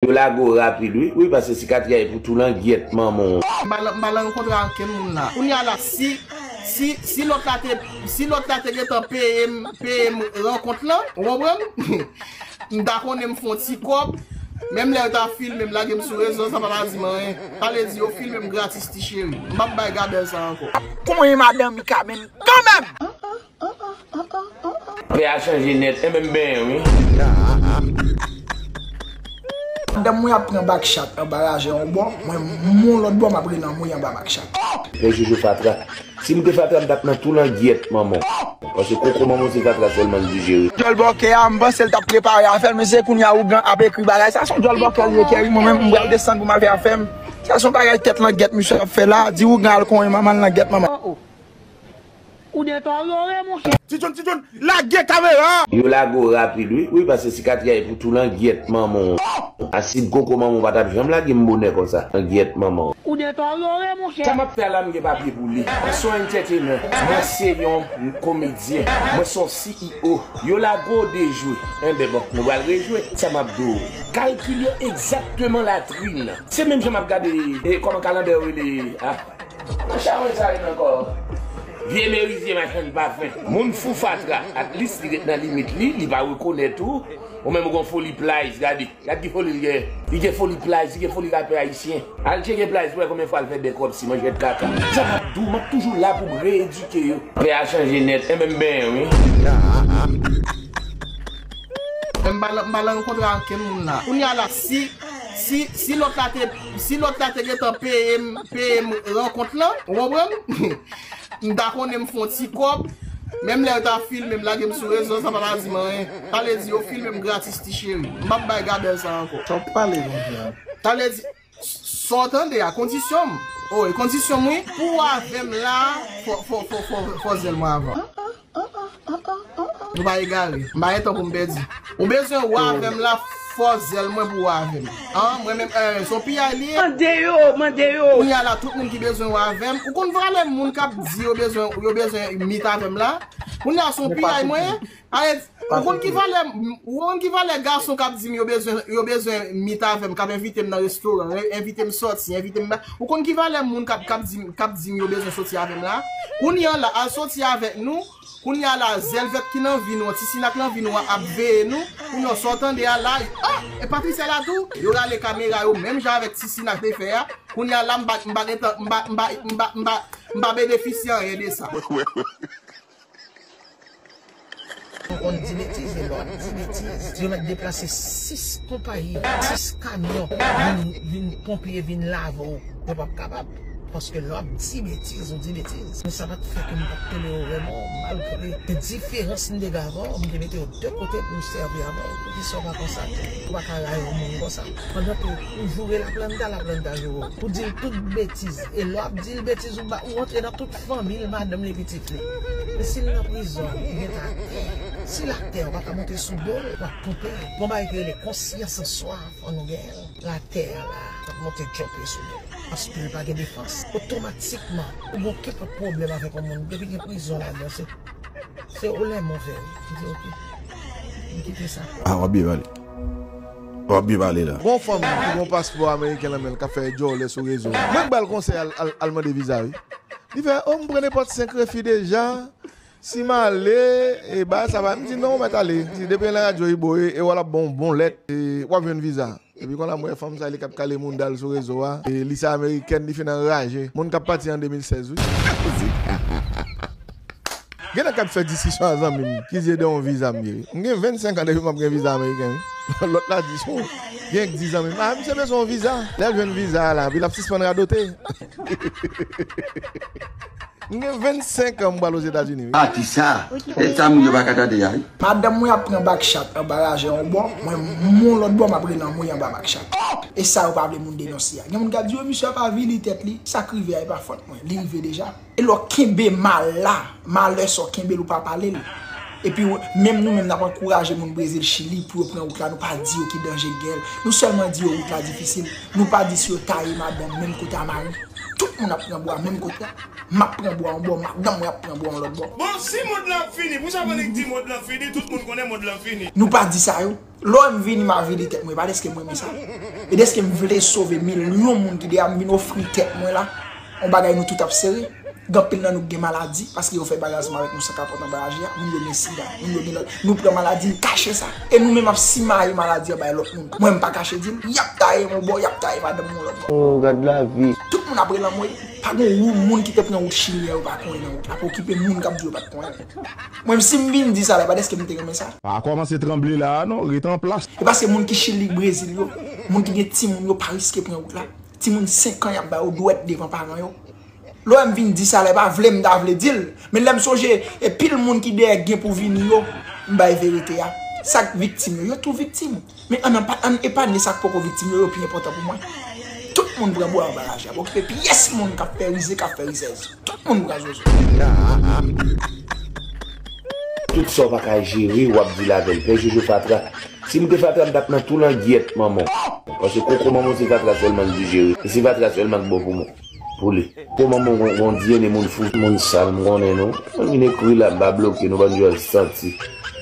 Yo lague w rapid wi. Wi pase sikatri a e pou tou langyèt manman w. M pa nan yon kontra ak kenn moun la. Kounya la si si si lòt la te si lòt la te gentan peye m peye m rankont lan ou konprann m ta konnen m fon ti kòb menm lè yo ta filme m lage m sou rezo sa pa ta di m anyen sa vle di yo filme m gratis ti cheri m pap bay gabèl sa ankò. Kouman e madan Mika menm kanmenm. Ah ah ah ah ah ah. Pè a chanje nèt e menm benyen wi. Madanm mwen ap pran bak chat anba rajè yon bò, mwen moun lòt bò map rele nan mouye anba bak chat. Pè jojo fatra. Si m te fatra m tap nan tou langyèt manman w. Paske koko manman w se fatra sèlman l dijere. Djòl bòkè a m panse l tap prepare afè l men se kounya ougan ap ekri bagay sa son djòl bòkè li ye kè wi mwen menm m pral desann pou m al fè afè m sa son bagay tèt langèt misye ap fè la di ougan al konyen manman l langèt manman. Oh oh Ou deteriore mon chè. Ti john ti john lage kamera. Yo lage'w rapid wi. Wi pase sikatri a e pou tou langyèt manman w. Asid koko manman w pa tap janm lage m bonè konsa langyèt manman w. Ou deteriore mon chè. Sa map fè a la m gen papye pou li. Mwen son entertainer, mwen se yon komedyen, mwen son CEO. Yo lage w dejwe. Enben bon, nou pral rejwe. Sa map di w. Kalkil yo egzakteman latrine. Se menm jan map gade kòman kalanbè yo rele a. Nan charonj sa yo nan kò. Vye merizye machann pafen. Moun fou fatra at least li ret nan limit li, li pa rekonèt ou, ou menm ou gon foli plajs gade, gad ki foli li gen, li gen foli plajs, li gen foli rapè ayisyen, al tcheke plajs pou wè konbyen fwa l fè bèkòp si manjèt kaka. Sa map diw map toujou la pou m reedike yo. Pè a chanje nèt, enben m benyen wi. Mpa lan kontra ak kenn moun la. Kounya la si si si lòt la te. Si lòt la te gentan peye m peye m rankont lan, ou konprann? M ta konnen m fè yon ti kòb, menm lè yo ta filme m lage m sou rezo sa pa ta di m anyen. Sa vle di yo filme m gratis ti cheri. M pap bay Gabèl sa ankò. Sa w pale konsa a? Sa vle di, sa w tande a, kondisyon m. Oh e kondisyon m wi. Pou w avè m la a, fò w fè zèl mwen avan. Ah ah ah ah ah ah. Nou pa egare. M pa gen tan pou m pèdi. Ou bezwen wa avè m la fòs zèl mwen pou wa avè m. An, mwen menm eh se yon piyay li ye. Mande yo, mande yo. Kounya la tout moun ki bezwen wa avè m. Ou konn valè moun k ap di yo bezwen yo bezwen meet avè m la? Kounya se yon piyay mwen ye. Are ou konn ki valè ou konn ki valè gason k ap di m yo bezwen yo bezwen meet avè m k ap envite m nan restoran, envite m sòti, envite m nan Ou konn ki valè moun kap kap dim kap dim yo bezwen soti avèm la kounya la al soti avèk nou kounya la zèl vèt ki nan vi nou an ti sina k nan vi nou an ap veye nou kounya w sa w tande a la ah e Patricia la tou yo rale kamera yo menm jan avèk ti sina k te fè a kounya la m pa m pa gentan m pa m pa m pa m pa m pa benefisye anyen de sa. Ou konn di betiz e lè wap di betiz. Yo mèt deplase 6 konpayi, 6 kamyon vin ponpye vin lave w. Yo pap kapab. Paske lè wap di betiz ou di betiz. Men sa pat fè ke m pat kenbe w remò malgre gen diferans m te gen avè w. M te mete w de kote pou m sèvi avè w. Poukisa w pa konstate ou pa ka rayi yon moun konsa. Pandan ke ou joure laplanta, laplanta joure w. Ou di l tout betiz. E lè wap di l betiz ou antre nan tout. Fanmil madanm li pitit li. Sil nan prizon li gen ta atè. Sil atè ou paka monte sou dol wap poupè. Gon bagay ki rele konsyans an swa fò nou genyenl. Lè atè a la wap monte tchòpè sou dol. Paskl pa gen defans. Otomatikman ou gon kenpòt pwoblèm avèk yon moun depi gen prizon ladan se ou lè move wi. Kite ok. Kite sa. Aw ap byen pale. Wap byen pale la. Gon fanm ki gon paspò ameriken lan menl kap fè djòlè sou rezo a mwen k bal konsèy al mande viza wi li fè oh m pran nenpòt 5 refi deja si m ale e bagay sa va m di non ou mèt ale si depi nan radyo ibo e wè lap ban w bon lèt wap jwenn viza epi konnya m wè fanm sa li kap kale mounda l sou rezo a li se amerikèn li fin anraje moun kap pati an 2016 wi. Genlè kap fè disisyon a zanmim ki zye de yon viza m ye m gen 25 an depi map gen viza ameriken wi lòt la di son genlè k di zanmim ah misye bezwen yon viza lèl jwenn viza a la epi lap sispann radote m gen 25 an m pral ozetazini wi. Atis sa, e sa moun yo paka tande a wi. Madanm mwen ap pran back chat anba lajè yon bò, mwen mon lòt bò map rele anmwey anba back chat. Oh! E sa yo pa vle moun denonse a. Gen moun kap di oh misye ap avili tèt li, sak rive a e pa fòt mwen, li rive deja. Elò kenbe mal la, malè sa w kenbe l ou pa pale l. Epi menm nou menm n ap ankouraje moun Brezil, Chili pou yo pran wout la nou pa di yo ki danje k gen l. Nou sèlman di yo wout la difisil. Nou pa di si yo taye madanm menm kote a mari. Tout moun ap pran bwa menm kote a. M ap pran bwa yon bò, madanm mwen ap pran bwa yon lòt bò. Bon si mond lan fini, pou sa Monique di mond lan fini, tout moun konnen mond lan fini. Nou pa di sa yo. Lò m vini m a vide tèt mwen pa dèske m renmen sa, e dèske m vle sove milyon moun ki deyè m vin ofri tèt mwen la, yon bagay nou tout ap sere, gen anpil nan nou ki gen maladi, paske yo fè bagay ansanm avèk nou san kapòt anba laji a, moun yo gen sida, moun yo gen lòt, nou pran maladi n kache sa, e nou menm ap simaye maladi an bay lòt moun, mwen m pa kache di m, y ap taye m yon bò, y ap taye madanm m yon lòt bò. Oh gad lavi! Tout moun ap rele anmwey, pa gen yon moun ki te pran wout chili a yo pa konnen nan wout la, ap okipe moun k ap di yo pa t konnen. Mwen menm sim vin di sa la epa deske m te renmen sa. Pa kòmanse tranble la a non, ret anplas. E paske moun ki chili brezil yo, moun ki gen timoun yo pa riske pran wout la. Timoun 5 an yap ba yo dwèt devan paran yo. Lè w wè m vin di sa la e pa vle m ta vle di l, men lè m sonje e pil moun ki dèyè gen pou vini yo, m bay verite a. Sak viktim yo, yo tou viktim. Men an ann epanye sa k poko viktim yo, yo pi enpòtan pou mwen. Tout moun pran bwa anba raje a. Pa okipe pyès moun k ap fè rize, k ap fè rizèz. Tout moun pran zozo. Tout sa w pa ka jere w ap dil avè l. Pè Jojo fatra. Si m te fatra m t ap nan tou langyèt manman w. Paske koko manman w se fatra sèlman l di jere. E se fatra sèlman k bon pou mwen. Pou li. Po manman w gon DNA moun fou. Moun sal m konnen nou. Mwen vin ekri la m pa bloke nou bann dyòl santi.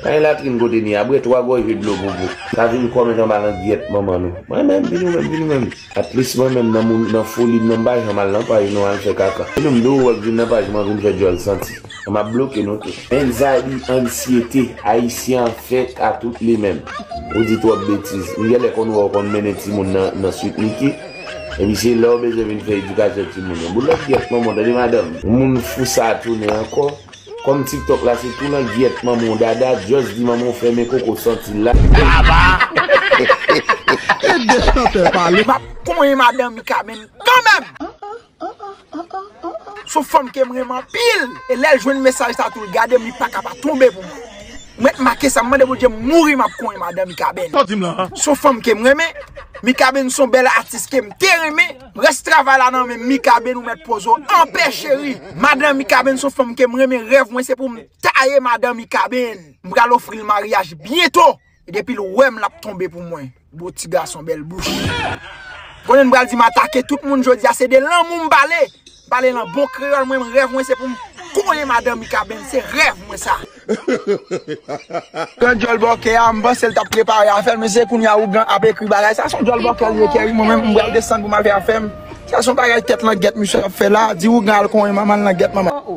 Pa gen latrin kote ni a. Bwè 3 gòje dlo pou pou. Ka vin kòmèt anba langyèt manman nou. Mwen menm vin ou menm vin ou menm. At least mwen menm nan moun nan foli m nan m pa janm al nan paj nou al fè kaka. Vin ou m di ou wè k vin nan paj mwen vin fè dyòl santi. M ap bloke nou tout. Anxiety, ansyete, Ayisyen an fèt a tout li menm. Ou di twòp betiz. M gèlè konn wè w konn mennen timoun nan nan Sweet Micky. Epi se lè ou bezwen vin fè edikasyon timoun yo. Boulèt gyèt manman w tande madanm. Moun fou sa a tounen ankò. Kòm tiktok la se tou nan gyèt manman w dada just di manman w fèmen koko santi l la. Kèt gen chantè pale. Map konyen madan mika menm kanmenm. Ah ah ah ah ah ah. Son fanm kem renmen anpil e lèl jwenn mesaj sa tou l gadem li paka pa tonbe pou mwen. M ret make sa m mande Bondye m mouri map konyen madan Mikaben. Sa w dim la a? Son fanm kem renmen. Mikaben son bèl atis kem te renmen. Rès travay la nan menm Mikaben ou mèt poze w anpè cheri. Madan Mikaben son fanm kem renmen rèv mwen se pou m taye madan Mikaben. M pral ofri l maryaj byento. Depil wèm lap tonbe pou mwen. Bon ti gason bèl bouch. Konnen m pral di m atake tout moun jodia se de lanmou m pale m pale lan bon kreyòl mwen m rèv mwen se pou m kole madan mikaben se rèv mwen sa. Grann djòl bòkè a m panse l tap prepare afèl men se kounya ougan ap ekri bagay sa son djòl bòkè li ye keri mwen menm m pral desann pou m al fè afèm sa son bagay tèt langèt misye ap fè la di ougan al konyen manman l langèt manman l.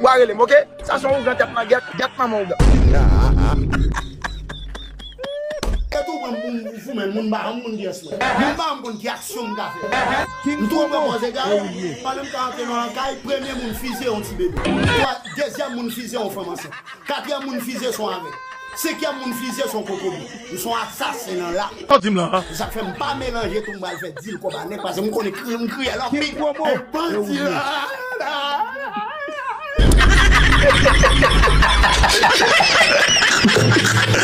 Wa relem ok. Sa son ougan tèt man gèt gèt manman ougan. Eske ou kwèm poum goumen moun ba yon moun pyès mwen. Moun ba yon konn ki aksyon m ka fè. M twò pè pòz egare m pandan m ka antre nan yon kay premye moun fizye yon ti bebe. Twa dezyèm moun fizye yon fanm ansent. Katriyèm moun fizye son avèg. Se kè moun fizye son kokobe. Ou son asasen nan rap. Sa w di m lan an? Se sak fè m pa melanje tou m pral fè deal kob a nèg pase m konnen kriye m kriyèl anpil. King promo e bandi la.